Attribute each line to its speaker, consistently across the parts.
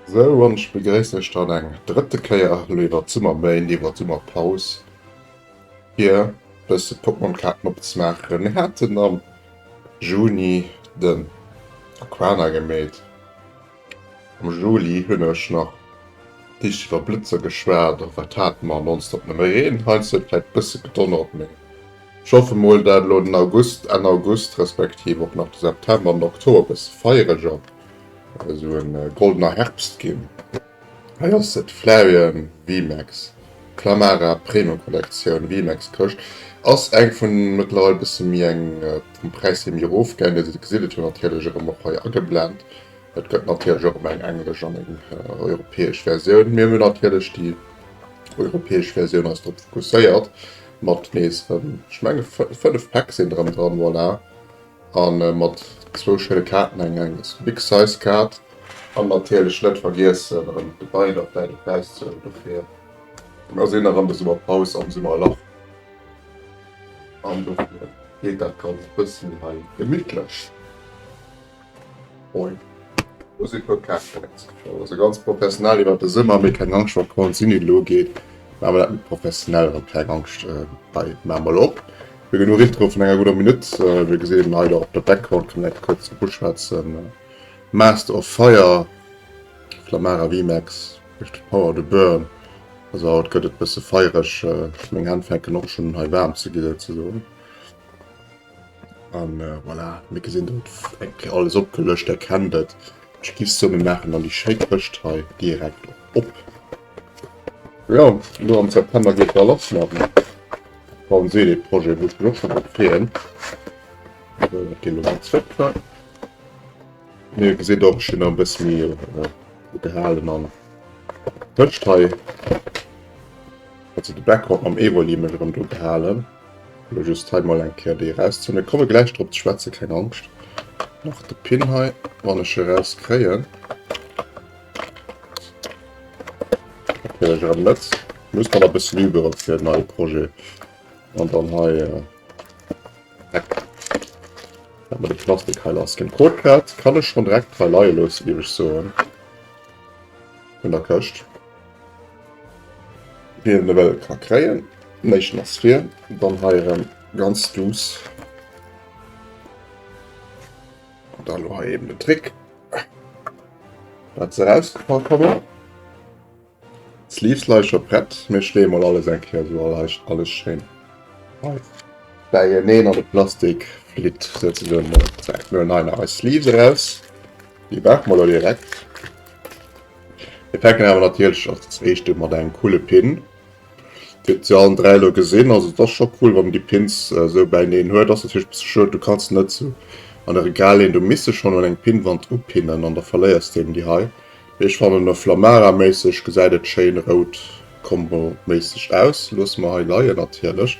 Speaker 1: Sou, an ech begréissen Iech dann eng drëtte Kéier elo iwwert d'Summerméint, iwwert d'Summerpaus, fir e bësse Pokémon-Kaarten opzemaachen. Mir haten am Juni, Den Aquana gemeet. Am Juli hunn ech nach liicht iwwer Blëtzer geschwat, och wat hate mer nonstop nëmme Reen. Heiansdo huet et vläit bësse gedonnert, mee ech hoffe mol, dat elo den August, Enn August, respektiv och nach de September an den Oktober e bësse feiereger, esou e goldener Herbst ginn. Hei ass se, d'Flareon VMAX, d'Plamara Premium Kollektioun. VMAX Këscht ass eng vun mëttlerweil bësse méi eng, vum Präis hir méi erof gaangen, wéi se gesiddelt hunn. Natierlech erëm och hei ageblend, et gëtt natierlech och ëmmer eng englesch an eng europäesch Versioun. Mir hunn natierlech déi europäesch Versioun eis drop fokusséiert mat nees erëm, ech menge 5 Pack sinn erëm dran, voilà. A mat zwou schéine Kaarten, eng eng Big Size Kaart an natierlech net vergiessen erëm de Bein op däi de Präis ze huelen dofir. Mer sinn erëm de Summerpaus am Summerlach an dofir geet dat Ganzt e bëssen hei gemittlech. Moin. Hu se guer keng Fans geschoss. Also ganz professionell iwwert de Summer, mee keng Angscht wa Korn sin hin lo geet man awer dat net professionell an. Keng Angscht hei man mol op fir genuch Intro vun enger gudder Minutt. Mir gesinn hei der op der Background kann eng kuerz dru schwätzen Master of Fire Flamara Vimax mécht de Power to Burn. Also haut gëtt et bësse feiereg, meng Hänn fänken och schon un hei waarm ze gi souzesoen. An voilà, mir gesinn et eng Kéier alles opgelëscht, der kennt et. Ech giff soen, mir maachen dann déi schéi Këscht hei direkt op. Jo, elo am September geet da lass mat dem Bau'n Seele Projet, wou ech mech och scho drop freeën. Sou, dat geet elo hei zréck do. Wéi dir gesitt och, ech hunn nach e bësse méi do gehalen an d'Këscht hei, also de Background mam Evoli, mech erëm do gehalen. Elo just hei mol eng Kéier déi erauszehuelen. Ech komme gläich drop ze schwätzen, keng Angscht. Nach de Pin hei, wann ech e rauskréien. Natierlech erëm net. Muss man e bëssen übe fir en neie Projet. An dann hei. Äh, Hat man de Plastik hei lass ginn. Codepad kann ech schon direkt hei leie loossen, géif ech soen. Vun der Këscht. Wien en ewell ka kréien. Néischten ass vir, dann hei erem ganz douce. An dann elo hei eben den Trick dat se rausgefall kommen. D'Sleeves leie scho prett, mir schléie mol alles eng Kéier esou leicht alles schéin hei bäieneen an de Plastik flitt souzesoen. Elo hei nach eis Sleeves eraus, déi brauche mer elo direkt. Mir fänken awer natierlech als éischte mat engem coole Pin. Dir se allen dräi lo gesinn, also et ass scho cool, wann déi Pins esou bäineen huet. Ass natierlech e bësse schued, du kanns net sou an e Regal leen, du misst se schonn un eng Pinnwand upinnen an da verléiers de eben déi hei. Mee ech fannen e Flammara-méisseg gesäit et schéin rout-Combo-méisseg aus. Loosse mer hei leien natierlech.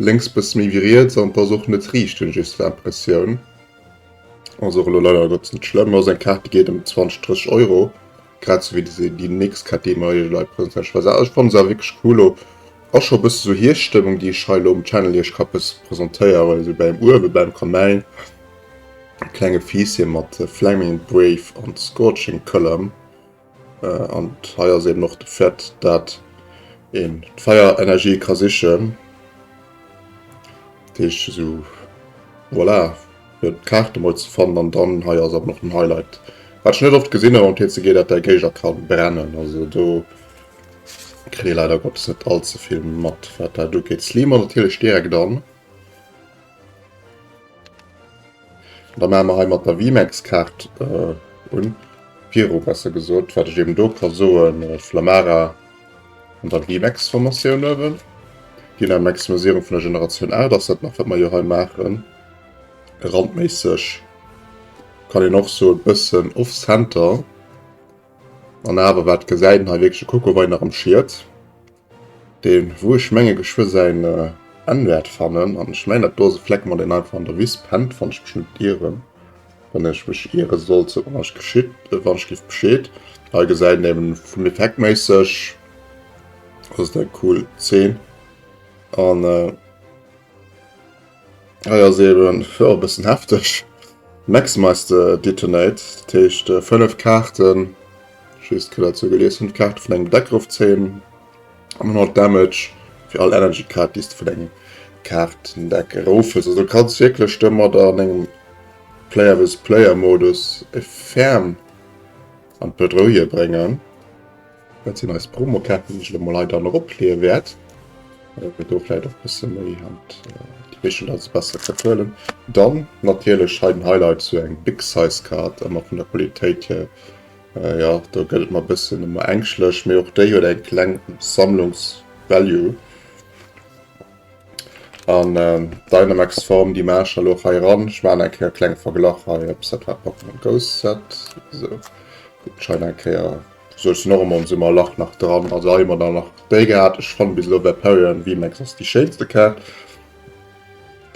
Speaker 1: Lénks bëssen méi wéi riets an d'ass och net riichten just fir Impressioun. Ass och elo leider net net schlëmm. Ass eng Kaart déi geet em 20, 30 Euro grad sou wéi déi nächst Kaart déi mer iech hei präsentéieren. Ech fannen se awer wierklech cool. Elo ass scho e bësse sou Hierschtstëmmung déi ech hei elo um Channel iech ka bësse präsentéieren. Esou bäim Uewe bäim Kamäin, klenge Fiisschen mat Flaming Brave an Scorching Column. Äh, an hei ass eben och de Fait, dat een d'Feierenergie ka sichen. Dat heescht esou, voilà, fir d'Kaarte mol ze fannen. An dann hei ass eben och den Highlight, wat ech net oft gesinn hunn am TCG, dat däi Géigner ka brennen. Also do kritt ee leider Gottes net all ze vill mat, wat dat ugeet. D'Slimer natierlech direkt an. Da maache mer hei mat der Vimex-Kaart un, viru besser gesot, wat ech eben do ka soen, Flamara an dann Vimex-Formatioun uewen. Dynam Maximisierung vun der Generatioun 8 ass dat nach, wat mer jo hei maachen. Randméisseg kann een och soen, e bëssen off-center. An awer, wat gesäit een hei wierklech? E Coco war hei nach am Schiet. Deen wou ech menge Geschwë säin Enn wärt fannen an ech mengen dat do ass e Fleck mat een einfach an der Wiss pennt wann ech mech net ieren. Wann ech mech ieren sollt sot mer wann ech geschitt wann ech giff bescheed. Hei gesäit een eben vun effektméisseg ass et eng cool Zeen an. Ah ja, se eben jo e bëssen hefteg. Maximize Detonate, dat heescht 5 Kaarten, just kënnt dat sou gelies, 5 Kaarten vun engem Deck erof zéien an dann haut Damage fir all Energy Kaart déi s vun engem Kaartendeck erof hues. Also du kanns wierklech domadder an engem Player vs Player Modus e Ferm an d'Bedrouille bréngen. Dat sinn eis Promokaarten, déi ech elo mol hei dann eropleeë wäert, well mir do vläicht och e bësse méi haut déi Bigel als besser kënnt huelen. Dann natierlech hei den Highlight, sou eng Big-Size-Kaart, ëmmer vun der Qualitéit hier, jo, do gëtt et mer e bëssen ëmmer ängschtlech, mee och déi huet eng kleng Sammlungs-Value. An d'Dynamax-Form, déi maache ech elo och hei eran. Ech maachen eng Kéier e klenge Verglach hei, ob se dat war, Pokémon Go Set, esou, guckt scheinbar eng Kéier. Sou ass den Ormond sou mer lacht nach dran, also hei hu mer dann nach déi gehat. Ech fannen bis elo Vaporeon VMAX ass déi schéinste Kaart.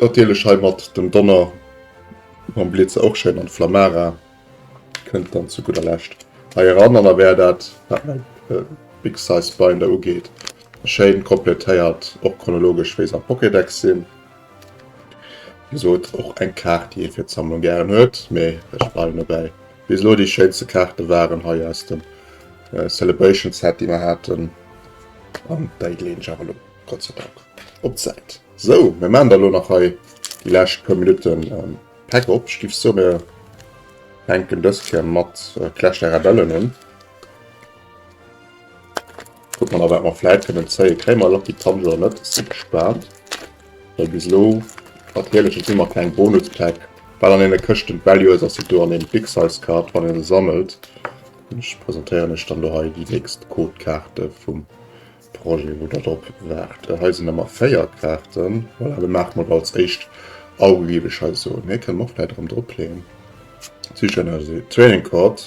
Speaker 1: Natierlech hei mat dem Donner mam Blitzer och schéin an Flamara kënnt dann zu gudder Lescht hei eran. An da wär dat wat mäi Big Size Binder ugeet schéin kompletéiert, och chronologesch wéi se am Pokédex sinn. Wéi gesot, och eng Kaart, déi ee fir d'Sammlung gären huet, mee ech bleiwen dobäi, bis elo déi schéinste Kaarte waren hei aus dem Celebration Set, déi mer haten, an déi leen ech awer elo Gott sei Dank op d'Säit. Sou, mir maachen da elo nach hei déi lescht puer Minutten Päck op. Ech géif soen, mir fänken dës Kéier mat Clash der Rebellen un. Kucke mer nach wat mer vläit kënnen zéien. Kréie mer Lucky Punch oder net? Si gespaant. Well bis elo mat Heelechen hu mer keng Bonuspäck. Wat an deene Këschten d'Value ass, ass déi do an deem Big Size Card, wann een e sammelt. Ech presentéieren iech dann do hei déi nächst Codekaarte vum Projet, wou der drop waart. Hei sinn der mar 4 Kaarten. Voilà, da maache mer der als éischt au, géif ech hei soen. Hei kënne mer och vläit erëm dropleeën. D'Südstad Training Card.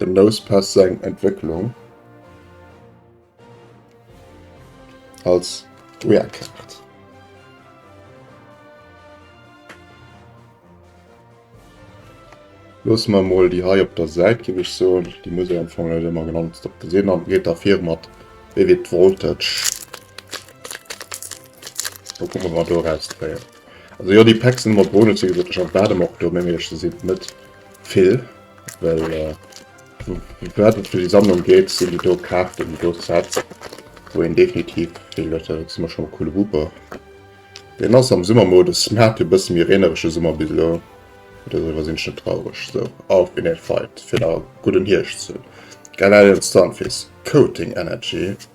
Speaker 1: Dem Nosepass seng Entwécklung als Wehrkaart. Loosse mer mol déi hei op der Säit, géif ech soen. Déi muss ee am Fong net ëmmer genau nonstop gesinn. An et geet da vir mat Wéi wier d'Voltage? Wat kënne mer do erauszéien? Also jo déi Packs ëmmer Boni ze gesot ech erwaarde mer och do meng ech se sinn net vill well wat et fir déi Sammlung geet sinn déi do Kaarten déi do Sets wou een definitiv vill huet dat ass ëmmer schonn e coole Wupper. Deen ass am Summer Modus mä hat e bësse méi reeneresche Summer bis elo mä doriwwer sinn ech net traureg esou auf in den Fight fir nach e gudden Hierscht ze hunn. Geil Alien Stunfisk Coating Energy.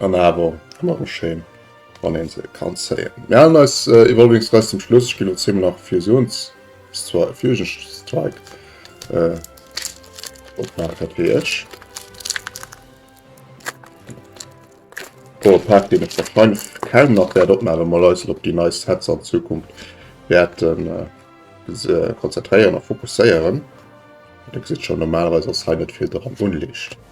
Speaker 1: An awer ëmmer méi schéin, wann een se kann zéien. Mir halen eis Evolving Stress zum Schluss. Ech ginn elo zeemol nach Fusions Fusion Strike opmaachen, wéi ech. Pro Attack, deen ech wahrscheinlech kaum nach wäert opmaachen, well mer eis elo op déi nei Sets an Zukunft wäerte konzentréieren a fokusséieren. Dir gesitt schonn, normalerweis ass hei net vill dran unliicht.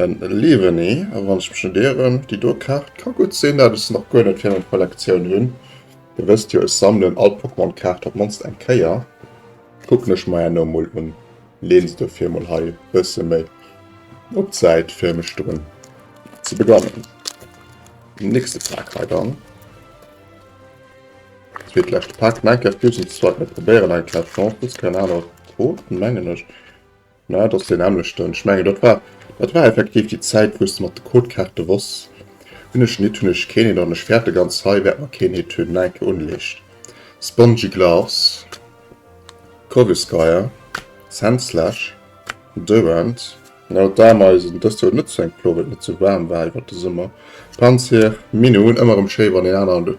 Speaker 1: En Lieweni, a wann ech mech net ieren, déi do Kaart ka gutt sinn dat ech se nach guer net fir meng Kollektioun hunn. Dir wësst jo, ech sammelen all Pokémon Kaart op d'mannst eng Kéier. Kucken ech mer herno mol un, leeën se dofir mol hei e bësse méi op d'Säit fir mech drun ze begonnen. Den nächste Pak hei dann. Zweet leschte Pak, Minecraft Fusion Sword, mir probéieren eng Carte Champions, keng Ahnung, Rot mengen ech. Na, et ass deen nämmlechten. Ech mengen, dat war, dat war effektiv déi Zäit, wou s de mat de Codekaarte wors, hunn ech en Hit, hunn ech keen Hit an ech fäerte ganz hei, wäert mer keen Hit hunn. Enke unleescht. Spongy Gloves, Corvisquire, Sandslash, Durant, na, dat war mer eisen, dëst Joer net sou eng Plo, well et net sou waarm war iwwert de Summer. Panzir, Mine hunn ëmmer erëm schéi, wann een aneren.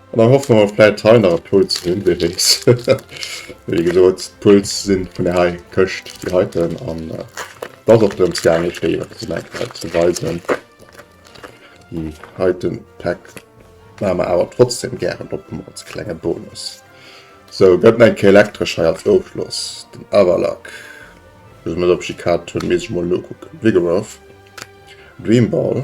Speaker 1: An dann hoffe mer vläit hei nach e Puls ze hunn, wee weess. Wéi gesot, d'Puls si vun där hei Këscht, déi heiten. An et ass och drëms gaangen, ee Fréijoer ze meckelen, ze weisen. Déi heite Päck maache mer awer trotzdeem gären op, ëmmer als klenge Bonus. Sou, gëtt et eng Kéier Elektresch hei als Ofschloss. Den Avalac, bis ech mer dat op Jikado hunn, misst ech mol nokucken. Vigoroth, Dreamball.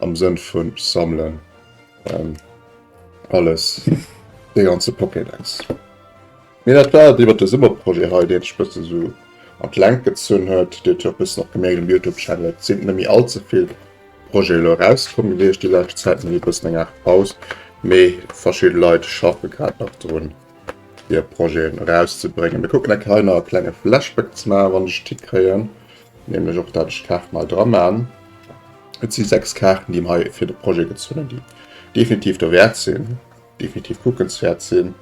Speaker 1: Am Sënn vun sammelen alles, de ganze Pokédex. Mee dat war et iwwert de Summerprojet hei, deen ech bëssen esou an d'Längt gezunn huet. Dir huet jo bëssen och gemierkt um Youtube Channel, et sinn net méi all ze vill Projeten elo erauskomm gewiescht déi lescht Zäit, mir hu bëssen eng Aart Paus. Mee verschidde Leit schaffe grad nach drun hir Projeten erauszebréngen. Mir kucken enk hei nach e klenge Flashback ze maachen, wann ech d'Tick kréien. Nämlech och dat ech d'Kaart mei dra maan. Et si 6 Kaarten déi mei fir de Projet gezunnen déi definitiv derwärt sinn, definitiv kuckenswärt sinn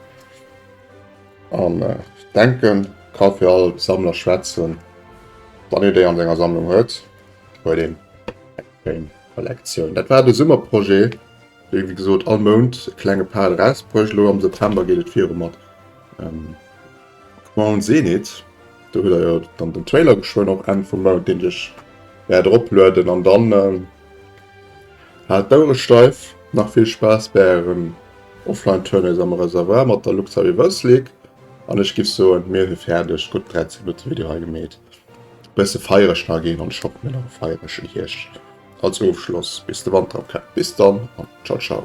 Speaker 1: an denken ka fir all Sammler schwätzen wann een déi an senger Sammlung huet, huet een eng schéin Kollektioun. Dat war de Summerprojet. Wéi wéi gesot all Mount e klenge Pal erausbruecht. Elo am September geet et viru mat Crown Zenith. Do huet der jo dann den Trailer geschwënn och Enn vum Mount, deen ech wäert eroplueden. An dann haalt d'Ouere steif, nach vill Spaass bäi ären Offline-Turnees am Reservoir mat der Luxor Reverse League. An ech giff soen, mir hu fäerdeg. Gutt 13 Minutte Video hei gemeet. Bësse feiereg nach ginn an Shop, mir nach e feierege Hierscht. Als Ofschloss bis de Wanter ok. Bis dann an ciao ciao.